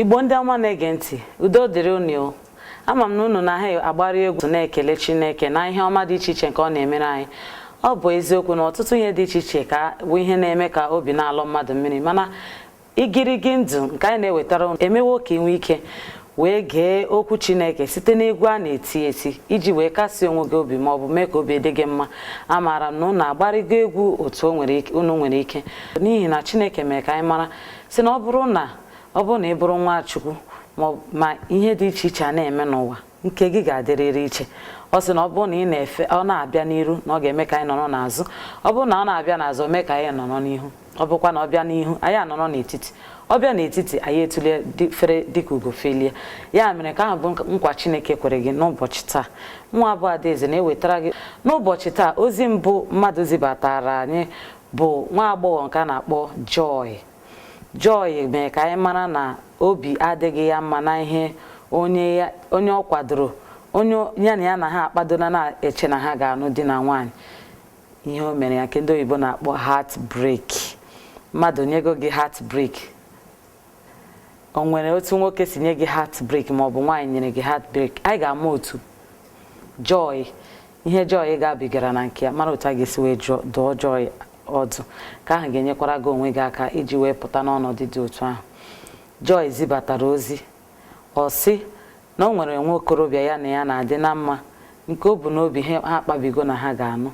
igbo ndị ọma na-ege ntị udo dịrị unu ama m na unu na ha agbarị egwu na-ekele chineke na ihe ọma dị iche iche nke ọ na-emere anyị ọ bụ eziokwu na ọtụtụ ihe dị iche iche ka bụ ihe na-eme ka obi na-alọ mmadụ mmiri mana igirigi ndụ nke anyị na-ewetara unu emewo ka ị nwee ike wee gee okwu chineke site n'egwu a na-eti eti iji wee kasie onwe gị obi ma ọ bụ mee ka obi dị gị mma amaara m na unu agbarịgo egwu otu unu nwere ike n'ihi na chineke mere ka anyị mara sị na ọ bụrụ na ọ bụrụ na ị bụrụ nwa chukwu ma ihe dị iche iche a na-eme n'ụwa nke gị ga-adịrịrị iche ọ sị na ọ bụrụ na ị na-efe ọ na-abịa n'iru na ọ ga-eme ka anyị nọrọ n'azụ ọ bụrụ na ọ na-abịa n'azụ o mee ka anyị nọrọ n'ihu ọ bụkwa na ọ bịa n'ihu anyị anọrọ n'etiti ọ bịa n'etiti anyị etulie fere dịka ugo felie ya mere ka ahụ bụ nkwa Chineke kwere gị n'ụbọchị taa mụwa bụ Adaeze na-ewetara gị n'ụbọchị taa ozi mbụ mmadụ zibatara anyị bụ nwa agbọghọ nke a na-akpọ Joy Joy mere ka anyị mara na obi adịghị ya mma na ihe onye ọ kwadoro onye ya na ya na ha akpadona na-eche na ha ga-anụ di na nwaanyị ihe o mere ya nke ndị oyibo na-akpọ heart break mmadụ nyego gị heart break o nwere otu nwoke si nye gị heart break ma ọ bụ nwaanyị nyere gị heart break anyị ga-ama otu Joy ihe Joy gabigara na nke ya mara otu a ga-esi wee dụọ Joy ọdụ ka ahụ ga-enyekwara gị onwe gị aka iji wee pụta n'ọnọdụ dị otu ahụ Joy zibatara ozi ọ sị na o nwere nwa okorobịa ya na ya na-adị na mma nke o bụ n'obi ha akpabigo na ha ga-anụ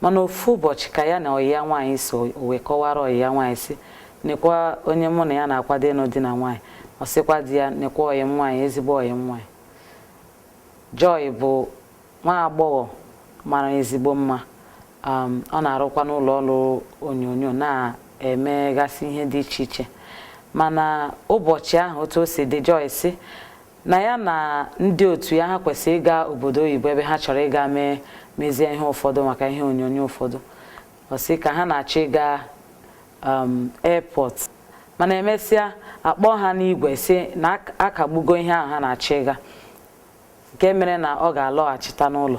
mana ofu ụbọchị ka ya na ọyị ya nwaanyị so wee kọwara ọyị ya nwaanyị sị nekwa onye mụ na ya na-akwado ịnụ di na nwaanyị ọ sịkwa di ya nekwa ọyị m nwaanyị ezigbo ọyị m nwaanyị Joy bụ nwa agbọghọ mara ezigbo mma um, ọ na-arụkwa n'ụlọ ọrụ onyonyo na-emegasị ihe dị iche iche mana ụbọchị ahụ otu o si dị Joy sị na ya na ndị otu ya ha kwesịrị ịga obodo oyibo ebe ha chọrọ ịga mezie ihe ụfọdụ maka ihe onyonyo ụfọdụ ọ sị ka ha na-achọ ịga um, airport mana emesịa a kpọọ ha n'igwe sị na akagbugo ihe ahụ ha na-achọ ịga nke mere na ọ ga-alọghachita n'ụlọ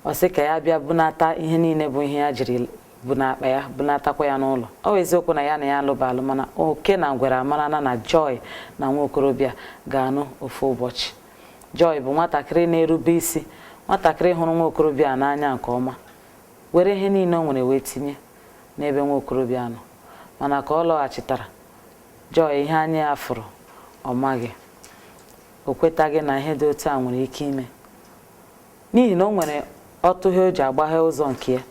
ọ sị ka ya bịa bunata ihe niile bụ ihe ya jiri bụ n'akpa ya bunatakwa ya n'ụlọ ọ bụ eziokwu na ya na ya alụba alụ mana oke na ngwere amarana na Joy na nwa okorobịa ga-anụ ofu ụbọchị Joy bụ nwatakịrị na-erube isi nwatakịrị hụrụ nwa okorobịa n'anya nke ọma were ihe niile o nwere wee tinye n'ebe nwa okorobịa nọ mana ka ọ lọghachitara Joy ihe anya ya fụrụ ọ maghị o kwetaghị na ihe dị otu a nwere ike ime n'ihi na o nwere ọtụghe o ji agbaghe ụzọ nke ya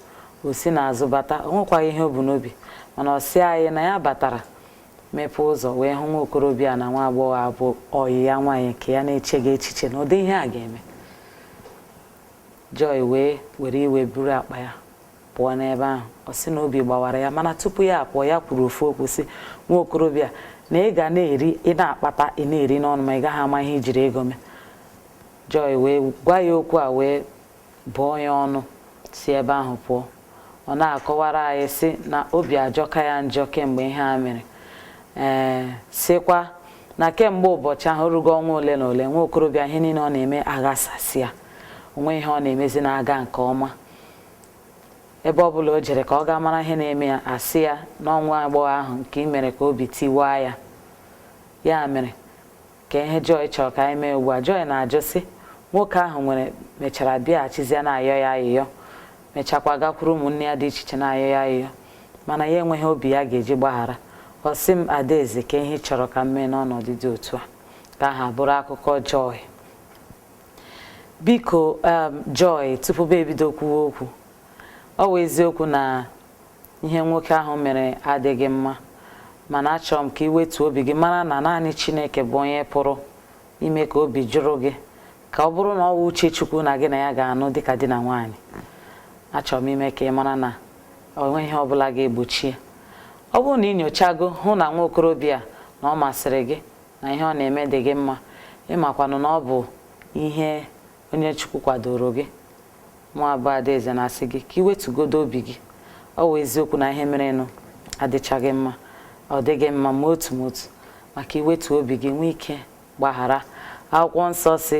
o si n'azụ bata o nwekwaghị ihe o bu n'obi mana ọ sị anyị na ya batara mepee ụzọ wee hụ nwa okorobịa na nwa agbọghọ a bụ ọyị ya nwaanyị nke ya na-echeghị echiche na ụdị ihe a ga-eme Joy wee were iwe buru akpa ya pụọ n'ebe ahụ ọ sị na obi gbawara ya mana tupu ya apụọ ya kwuru ofu okwu sị nwa okorobịa na ị ga na-eri ị na-akpata ị na-eri n'ọnụ ma ị gaghị ama ihe i jiri ego mee Joy wee gwa ya okwu a wee bụọ ya ọnụ si ebe ahụ pụọ ọ na-akọwara anyị sị na obi ajọka ya njọ kemgbe ihe a mere ee sịkwa na kemgbe ụbọchị ahụ rugo ọnwa ole na ole nwa okorobịa ihe niile ọ na-eme aghasasịa o nweghị ihe ọ na-emezi na-aga nke ọma ebe ọ bụla o jere ka ọ gaa mara ihe na-eme ya a sị ya na ọ nwa agbọghọ ahụ nke ị mere ka obi tiwaa ya ya mere ka ihe Joy chọrọ ka anyị mee ugbu a Joy na-ajụ sị nwoke ahụ nwere mechara bịaghachizie na-ayọ ya ayịyọ mechakwa gakwuru ụmụnne ya dị iche iche na-ayọ ya ayịyọ mana ya enweghị obi ya ga-eji gbaghara ọ sị m Adaeze kee ihe ị chọrọ ka m mee n'ọnọdụ dị otu a ka ọ ha bụrụ akụkọ Joy biko um, Joy tupu m ebido kwuwe okwu ọ wụ eziokwu na ihe nwoke ahụ mere adịghị mma mana achọrọ m ka i wetuo obi gị mara na naanị Chineke bụ onye pụrụ ime ka obi jụrụ gị ka ọ bụrụ na ọ wụ uche Chukwu na gị na ya ga-anụ dịka di na nwaanyị achọrọ m ime ka ị mara na o nweghị ihe ọbụla ga-egbochi ya ọ bụrụ na ị nyochago hụ na nwa okorobịa na ọ masịrị gị na ihe ọ na-eme dị gị mma ị makwanụ na ọ bụ ihe onye Chukwu kwadoro gị mụwa bụ Adaeze na-asị gị ka i wetugodu obi gị ọ wụ eziokwu na ihe merenụ adịchaghị mma ọ dịghị mma ma otu ma otu ma ka i wetuo obi gị nwee ike gbaghara akwụkwọ nsọ sị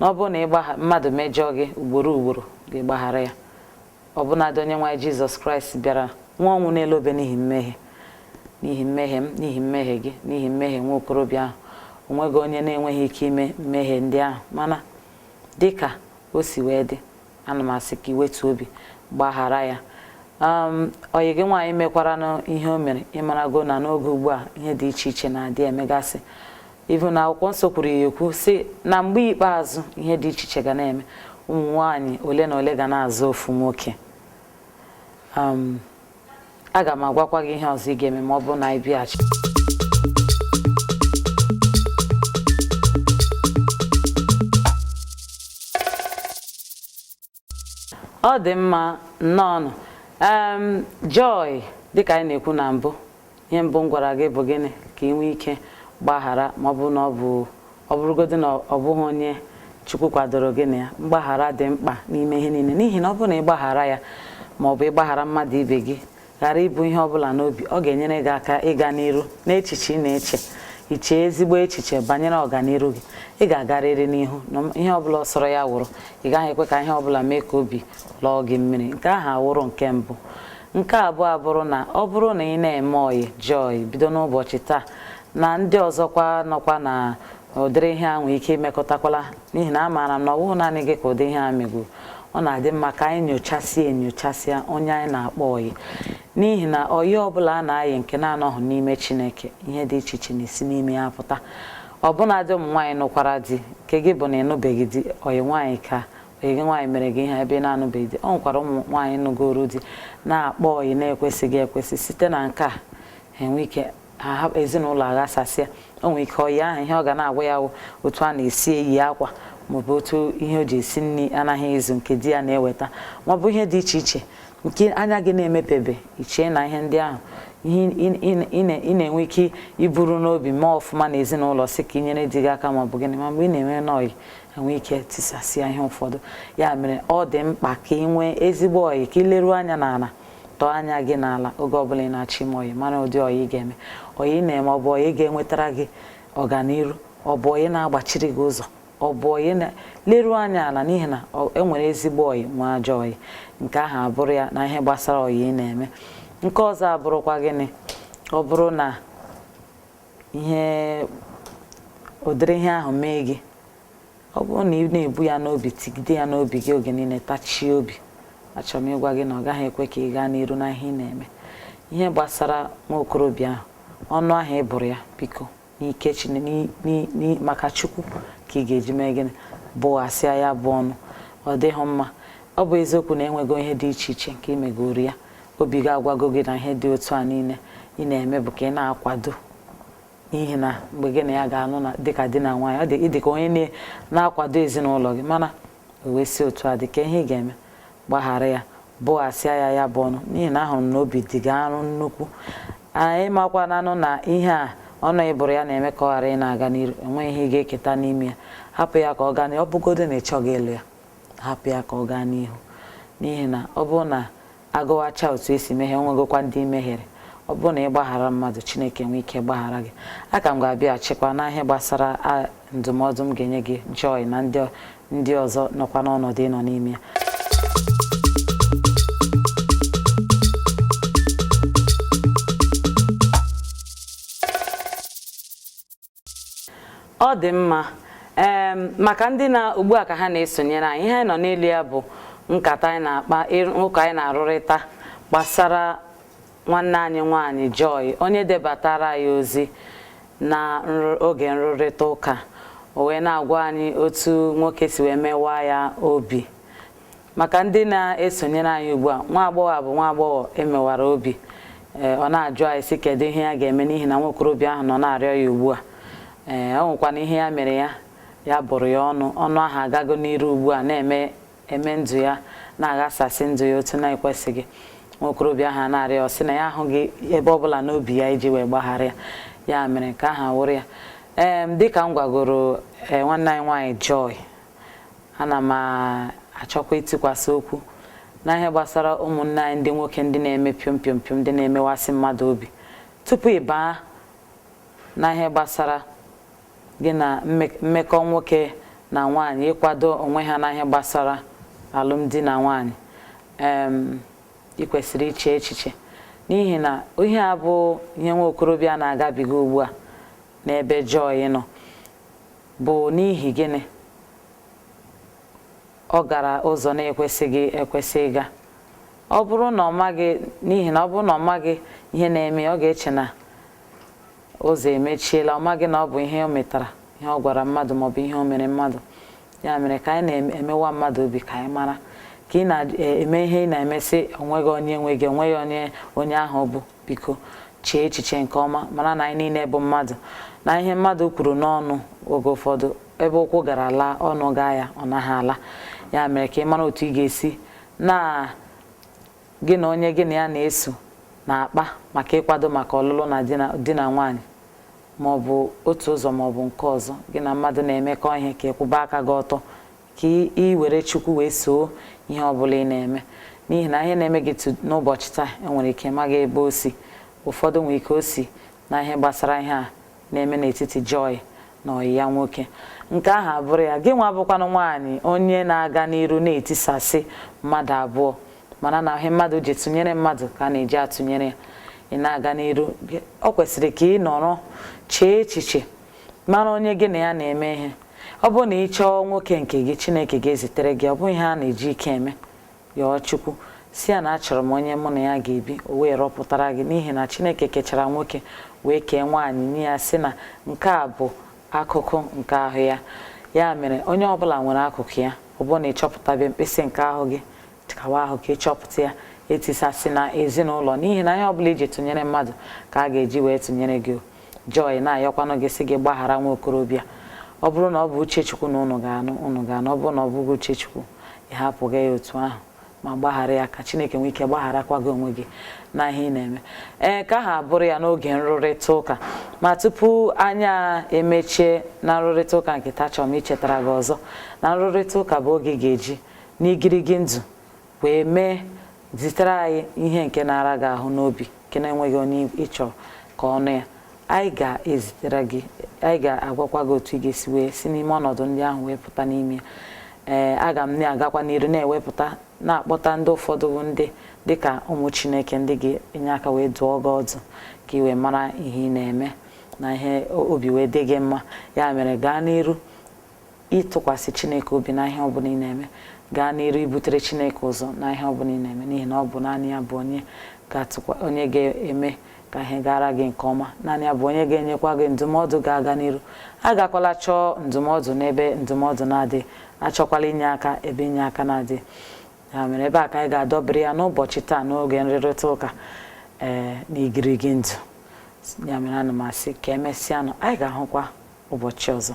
na ọ bụrụ na mmadụ mejọọ gị ugboro ugboro gị gbaghara ya ọbụnadị Onyenwe anyị Jizọs Kraịst bịara nwụa ọnwụ n'elu obe n'ihi mmehie n'ihi mmehie m n'ihi mmehie gị n'ihi mmehie nwa okorobịa ahụ o nweghị onye na-enweghị ike ime mmehie ndị ahụ mana dị ka o si wee dị ana m asị ka i wetuo obi gbaghara ya ọyị gị nwaanyị mekwaranụ ihe o mere ị marago na n'oge ugbu a ihe dị iche iche na-adị emegasị even akwụkwọ nsọ kwuru ya ekwu sị na mgbe ikpeazụ ihe dị iche iche ga na-eme ụmụ nwaanyị ole na ole ga na-azọ ofu nwoke um, aga m agwakwa gị ihe ọzọ ị ga-eme ma ọ bụrụ na anyị bịaghachi ọ dị mma nnọọnụ em joy dịka anyị na-ekwu na mbụ ihe mbụ m gwara gị bụ gịnị ka ị nwee ike gbaghara ma ọ bụrụ na ọ bụ ọ bụrụgodị na ọ bụghị onye chukwu kwadoro gị na ya mgbaghara dị mkpa n'ime ihe niile n'ihi na ọ bụrụ na ị gbaghara ya ma ọ bụ ịgbaghara mmadụ ibe gị ghara ibu ihe ọ bụla n'obi ọ ga-enyere gị aka ịga n'iru n'echiche ị na-eche iche ezigbo echiche banyere ọganiru gị ị ga-agarịrị n'ihu na ihe ọbụla ọ sọrọ ya wụrụ ị gaghị ekwe ka ihe ọbụla mee ka obi lọọ gị mmiri nke ahụ awụrụ nke mbụ nke abụọ abụrụ na ọ bụrụ na ị na-eme ọyị joy bido n'ụbọchị taa na ndị ọzọkwa nọkwa na ụdịrị ihe a nwee ike imekọtakwala n'ihi na amaara m na ọ bụghị naanị gị ka ụdị ihe a megoro ọ na-adị mma ka anyị nyochasịa enyochasịa onye anyị na-akpọ ọyị n'ihi na ọyị ọbụla a na-ayị nke na-anọghị n'ime Chineke ihe dị iche iche na-esi n'ime ya pụta ọbụnadị ụmụ nwaanyị nụkwara di nke gị bụ na ịnụbeghị di ọyị nwaanyị ka ọyị gị nwaanyị mere gị ihe ebe ị na-anụbeghị di ọ nwekwara ụmụ nwaanyị nụgoro di na-akpọ ọyị na-ekwesịghị ekwesị site na nke a enwe ike ezinụlọ aghasasịa o nwere ike ọyị ahụ ihe ọ ga na-agwa ya otu a na-esi eyi akwa maọbụ otu ihe o ji esi nri anaghị ezu nke di ya na-eweta maọbụ ihe dị iche iche nke anya gị na-emepebe ị chee na ihe ndị ahụ ị na-enwe ike iburu n'obi mee ọfụma na ezinụlọ sị ka i nyere di gị aka maọbụ gịnị ma mgbe ị na-enwe n'ọyị enwe ike tisasịa ihe ụfọdụ ya mere ọ dị mkpa ka ị nwee ezigbo ọyị ka ị leruo anya n'ala tọọ anya gị n'ala oge ọbụla ị na-achọ ime ọyị mara ụdị ọyị ị ga-eme ọyị ị na-eme ọ bụ ọyị ga-enwetara gị ọganiru ọ bụ ọyị na-agbachiri gị ụzọ ọ bụ ọyị na leruo anya ala n'ihi na enwere ezigbo ọyị nwee ajọ ọyị nke ahụ abụrụ ya na ihe gbasara ọyị ị na-eme nke ọzọ abụrụkwa gịnị ọ bụrụ na ihe ụdịrị ihe ahụ mee gị ọ bụrụ na ị na-ebu ya n'obi tigide ya n'obi gị oge niile tachie obi achọrọ m ịgwa gị na ọ gaghị ekwe ka ị gaa n'iru na ihe ị na-eme ihe gbasara nwa okorobịa ahụ ọnụ ahụ ị bụrụ ya biko n'ike Chineke maka Chukwu ka ị ga-eji mee gịnị bụghasịa ya bụ ọnụ ọ dịghị mma ọ bụ eziokwu na enwego ihe dị iche iche nke i megoro ya obi ga-agwago gị na ihe dị otu a niile ị na-eme bụ ka ị na-akwado n'ihi na mgbe gị na ya ga-anụ na dịka di na nwaanyị ọ dị ị dị ka onye na-akwado ezinụlọ gị mana o wee si otu a dị ka ihe ị ga-eme gbaghara ya bụghasịa ya ya bụ ọnụ n'ihi na ahụrụ m na obi dị gị arụ nnukwu anyị makwananụ na ihe a ọnụ ị bụrụ ya na-eme ka ọ ghara ịna-aga n'iru enweghị ihe ị ga-eketa n'ime ya hapụ ya ka ọ gaa n'ihu ọ bụgodo na ị chọghị ịlụ ya hapụ ya ka ọ gaa n'ihu n'ihi na ọ bụrụ na agụwacha otu esi mehie onwegokwa ndị i mehiere ọ bụrụ na ị gbaghara mmadụ chineke nwee ike gbaghara gị aka m ga-abịaghachikwa na ihe gbasara ndụmọdụ m ga-enye gị joy na ndị ọzọ nọkwa n'ọnọdụ ị nọ n'ime ya ọ dị mma ee maka ndị na ugbu a ka ha na-esonyere anyị ihe anyị nọ n'elu ya bụ nkata anyị na-akpa ụka anyị na-arụrịta gbasara nwanne anyị nwaanyị Joy onye debatara anyị ozi na oge nrụrịta ụka o wee na-agwa anyị otu nwoke si wee mewaa ya obi maka ndị na-esonyere anyị ugbu a nwa agbọghọ a bụ nwa agbọghọ emewara obi ee ọ na-ajụ anyị sị kedu ihe ya ga-eme n'ihi na nwa okorobịa ahụ nọ na-arịọ ya ugbu a ee ọ nwekwana ihe ya mere ya ya bụrụ ya ọnụ ọnụ ahụ agago n'iru ugbu a na-eme eme ndụ ya na-aghasasị ndụ ya otu na-ekwesịghị nwa okorobịa ahụ na-arịọ ọ sị na ya ahụghị ebe ọ bụla n'obi ya iji wee gbaghara ya ya mere nke ahụ bụrụ ya ee dịka m gwagoro ee nwanne anyị nwaanyị Joy ana m achọkwa itikwasị okwu na ihe gbasara ụmụnne anyị ndị nwoke ndị na-eme piom piom piom ndị na-emewasị mmadụ obi tupu ị baa na ihe gbasara gị na mmekọ nwoke na nwaanyị ịkwado onwe ha na ihe gbasara alụmdi na nwaanyị ị kwesịrị iche echiche n'ihi na ihe a bụ ihe nwa okorobịa na-agabiga ugbu a n'ebe Joy nọ bụ n'ihi gịnị ọ gara ụzọ na-ekwesịghị ekwesị ịga ọ bụrụ na ọ maghị n'ihi na ọ bụrụ na ọ maghị ihe na-eme ọ ga-eche na ụzọ emechiela ọ maghị na ọ bụ ihe o metara ihe ọ gwara mmadụ maọbụ ihe o mere mmadụ ya mere ka anyị na-emewa mmadụ obi ka anyị mara ka ị na-eme ihe ị na-eme sị onweghị onye nwe gị onweghị onye onye ahụ bụ biko chee echiche nke ọma mara na anyị niile bụ mmadụ na ihe mmadụ kwuru n'ọnụ oge ụfọdụ ebe ụkwụ gara ala ọnụ gaa ya ọ naghị ala ya mere ka ị mara otu ị ga-esi na gị na onye gị na ya na-eso na-akpa maka ịkwado maka ọlụlụ na di na nwaanyị ma ọ bụ otu ụzọ ma ọ bụ nke ọzọ gị na mmadụ na-emekọ ihe ka ịkwụba aka gị ọtọ ka ị were Chukwu wee soo ihe ọ bụla ị na-eme n'ihi na ihe na-eme gị n'ụbọchị taa enwere ike ị maghị ebe o si ụfọdụ nwere ike o si na ihe gbasara ihe a na-eme n'etiti Joy na ọyị ya nwoke nke ahụ abụrụ ya gị nwa bụkwanụ nwaanyị onye na-aga n'iru na-etisasị mmadụ abụọ mara na ihe mmadụ ji tụnyere mmadụ ka a na-eji atụnyere ya ị na-aga n'iru ọ kwesịrị ka ị nọrọ chee echiche mara onye gị na ya na-eme ihe ọ bụrụ na ị chọọ nwoke nke gị chineke ga-ezitere gị ọ bụghị ihe a na-eji ike eme yọọ chukwu sị ya na achọrọ m onye mụ na ya ga-ebi o wee rọpụtara gị n'ihi na chineke kechara nwoke wee kee nwaanyị nye ya sị na nke a bụ akụkụ nke ahụ ya ya mere onye ọbụla nwere akụkụ ya ọ bụrụ na ị chọpụtabe mkpịsị nke ahụ gị chịkwaa ahụ ka ị chọpụta ya etisasịna ezinụlọ n'ihi na ihe ọbụla i ji tụnyere mmadụ ka a ga-eji wee tụnyere gị Joy na-ayọkwanụ gị sị gị gbaghara nwa okorobịa ọ bụrụ na ọ bụ uche Chukwu na ụnụ ga-anụ ụnụ ga-anụ ọ bụrụ na ọ bụghị uche Chukwu ị hapụga ya otu ahụ ma gbaghara ya ka Chineke nwee ike gbagharakwa gị onwe gị na ihe ị na-eme ee ka ha bụrụ ya n'oge nrụrịta ụka ma tupu anya emechie na nrụrịta ụka nke taa achọrọ m ichetara gị ọzọ na nrụrịta ụka bụ oge ị ga-eji n'igirigi ndụ wee mee zitere anyị ihe nke na-ara gị ahụ n'obi nke na-enweghị onye ị chọrọ ka ọ nụ ya anyị ga-ezitere gị anyị ga-agwakwa gị otu ị ga-esi wee si n'ime ọnọdụ ndị ahụ wee pụta n'ime ya ee aga m na-agakwa n'iru na-ewepụta na-akpọta ndị ụfọdụ bụ ndị dịka ụmụ chineke ndị ga-enye aka wee dụọ gị ọdụ ka ị wee mara ihe ị na-eme na ihe obi wee dị gị mma ya mere gaa n'iru ịtụkwasị Chineke obi na ihe ọbụla ị na-eme gaa n'iru ibutere Chineke ụzọ na ihe ọbụla ị na-eme n'ihi na ọ bụ naanị ya bụ onye onye ga-eme ka ihe gara gị nke ọma naanị ya bụ onye ga-enyekwa gị ndụmọdụ ga-aga n'iru agakwala chọọ ndụmọdụ n'ebe ndụmọdụ na-adịghị achọkwala inye aka ebe inye aka na-adịghị ya mere ebe a ka anyị ga-adọbiri ya n'ụbọchị taa n'oge nrụrịta ụka ee eh, n'igirigi ndụ ya mere ana m asị ka emesịanụ anyị ga-ahụkwa ụbọchị ọzọ